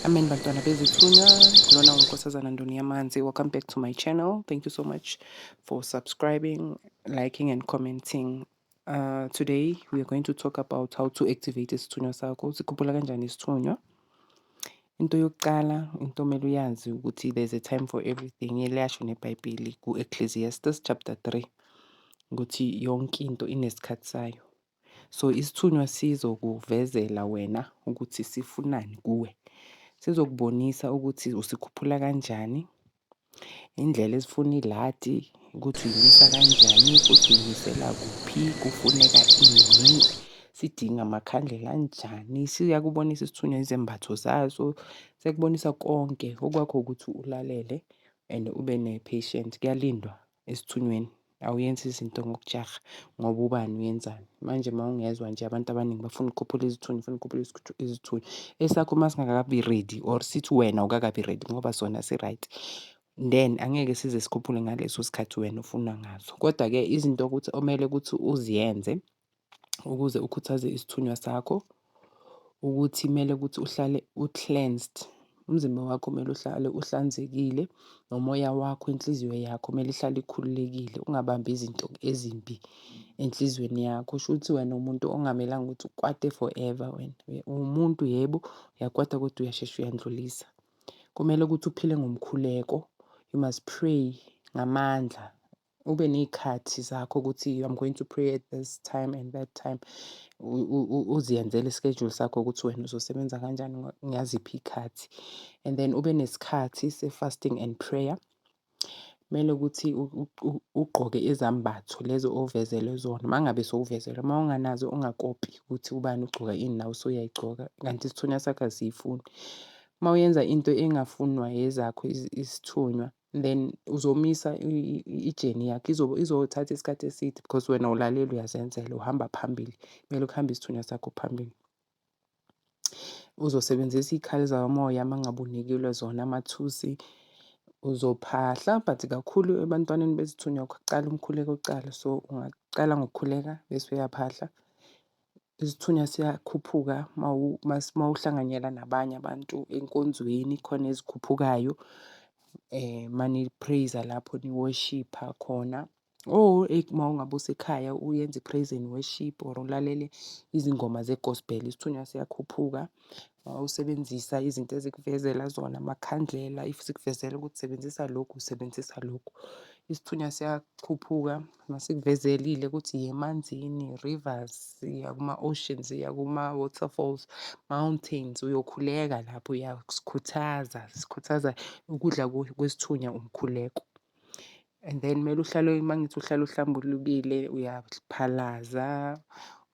Amen bantwana bezithunywa lona unkosazana ndoni yamanzi welcome back to my channel thank you so much for subscribing liking and commenting uh, today we are going to talk about how to activate isithunywa sakho sikhuphula kanjani isithunywa Into yokuqala into okumele uyazi ukuthi there's a time for everything liyasho nebhayibheli ku-Ecclesiastes chapter three ukuthi yonke into inesikhathi sayo. So isithunywa sizokuvezela wena ukuthi sifunani kuwe, sizokubonisa ukuthi usikhuphula kanjani Indlela esifuna iladi ukuthi uyilungisa kanjani futhi uyinisela kuphi, kufuneka ini, sidinga amakhandlela anjani. Siyakubonisa isithunywa izembatho zaso, siyakubonisa konke okwakho ukuthi ulalele and ube ne-patience, kuyalindwa. esithunyweni awuyenzi izinto ngokujaha ngoba ubani uyenzani. Manje uma ungezwa nje abantu abaningi bafuna ukukhuphula izithunywa bafuna ukukhuphula izithunywa. Esakho uma singakabi ready or sithi wena awukakabi ready ngoba sona si-right then angeke size sikhuphule ngaleso sikhathi wena ofuna ngaso. Kodwa-ke izinto okuthi okumele ukuthi uziyenze ukuze ukhuthaze isithunywa sakho ukuthi kumele ukuthi uhlale u-cleansed. Umzimba wakho kumele uhlale uhlanzekile, nomoya wakho, inhliziyo yakho kumele ihlale ikhululekile ungabambi izinto ezimbi enhlizweni yakho. Shuthi wena uwumuntu okungamelanga ukuthi ukwate forever wena. Uwumuntu yebo, uyakwata kodwa uyashesha uyandlulisa. Kumele ukuthi uphile ngomkhuleko, you must pray ngamandla. ube ney'khathi zakho ukuthi I'm going to pray at this time and that time. Uziyenzele i-schedule sakho ukuthi wena uzosebenza kanjani ngaziphi iy'khathi. And then ube nesikhathi se-fasting and prayer. Kumele ukuthi ugqoke izambatho lezo ovezelwe zona uma ngabe sowuvezelwe, uma unganazo ungakopi ukuthi ubani ugcoka ini nawe usuyayigcoka kanti isithunywa sakho asiyifuni. Uma uyenza into engafunwa ezakho isithunywa then uzomisa ijeni yakho izothatha isikhathi eside because wena ulalele uyazenzela uhamba phambili kumele ukuhambe isithunywa sakho phambili. Uzosebenzisa iy'khali zakamoya uma ngabe unikelwe zona amathusi uzophahla but kakhulu ebantwaneni bezithunywa kuqala umkhuleko kuqala so ungaqala ngokukhuleka bese uyaphahla. Isithunywa siyakhuphuka uma uhlanganyela nabanye abantu enkonzweni khona ezikhuphukayo uma ni-praise-a lapho ni-worship-a khona or uma ngabe usekhaya uyenza i-praise and worship or ulalele izingoma ze-gospel isithunywa siyakhuphuka. Mawusebenzisa izinto ezikuvezela zona amakhandlela if sikuvezela ukuthi sebenzisa lokhu usebenzisa lokhu. Isithunywa siyachuphuka masikuvezelile ukuthi yiya emanzini, rivers, yiya kuma-oceans, yiya kuma-waterfalls, mountains uyokhuleka lapho uya kusikhuthaza, sikhuthaza ukudla kwesithunywa umkhuleko. And then kumele uhlale uma ngithi uhlale uhlambulukile uyaphalaza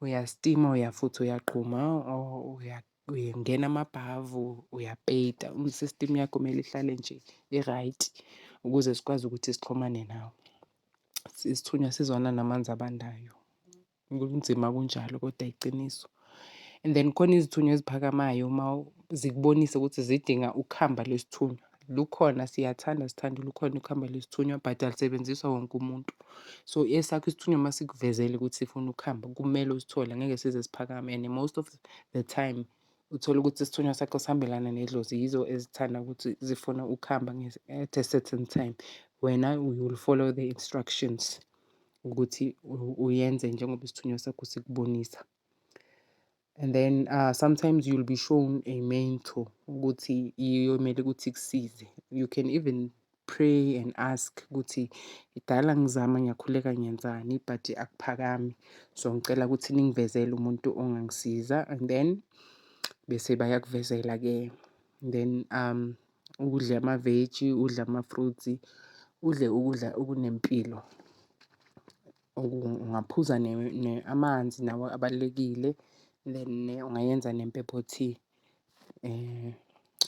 uyastima uyafutha uyaqhuma uyangena amabhavu uyapeyita i-system yakho kumele ihlale nje i-right ukuze sikwazi ukuthi sixhumane nawe. Isithunywa sizwana namanzi abandayo. Kunzima kunjalo kodwa yiqiniso. And then khona izithunywa eziphakamayo uma zikubonisa ukuthi zidinga ukuhamba lwesithunywa. Lukhona siyathanda sithanda lukhona ukuhamba lwesithunywa but alusebenziswa wonke umuntu. So esakho isithunywa uma sikuvezele ukuthi sifuna ukuhamba kumele usithole ngeke size siphakame and most of the time uthole ukuthi isithunywa sakho sihambelana nedlozi yizo ezithanda ukuthi zifuna ukuhamba at a certain time wena you will follow the instructions. ukuthi uyenze njengoba isithunywa sakho sikubonisa and then uh, sometimes you'll be shown a mentor ukuthi iyomele ukuthi kusize you can even pray and ask ukuthi idala ngizama ngiyakhuleka ngiyenzani but akuphakami so ngicela ukuthi ningivezele umuntu ongangisiza and then bese bayakuvezela ke then um udle amaveji, udle ama-fruits, udle ukudla okunempilo. Ungaphuza amanzi nawo abalulekile then ungayenza nempepho tea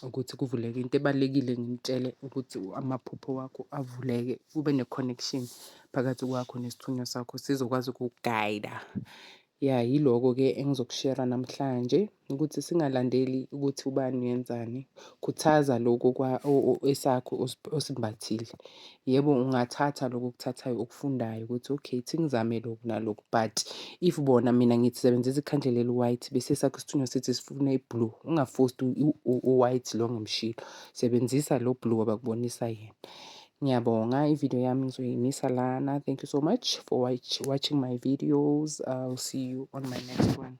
ukuthi kuvuleke into ebalulekile ngimtshele ukuthi amaphupho wakho avuleke ube ne-connection phakathi kwakho nesithunywa sakho sizokwazi ukuku-guide-a. Ya yiloko ke engizokushera namhlanje ukuthi singalandeli ukuthi ubani uyenzani. Khuthaza lokho kwa esakho osimbathile. Yebo ungathatha lokho okuthathayo okufundayo ukuthi okay thi ngizame lokhu nalokhu but if bona mina ngithi sebenzisa ikhandlela eli-white bese sakho isithunywa sithi sifuna i-blue ungafosti u-white lo ngemshilo. Sebenzisa lo blue abakubonisa yena. Ngiyabonga ivideo yami ngizoyimisa lana. Thank you so much for watch, watching my videos. I'll see you on my next one.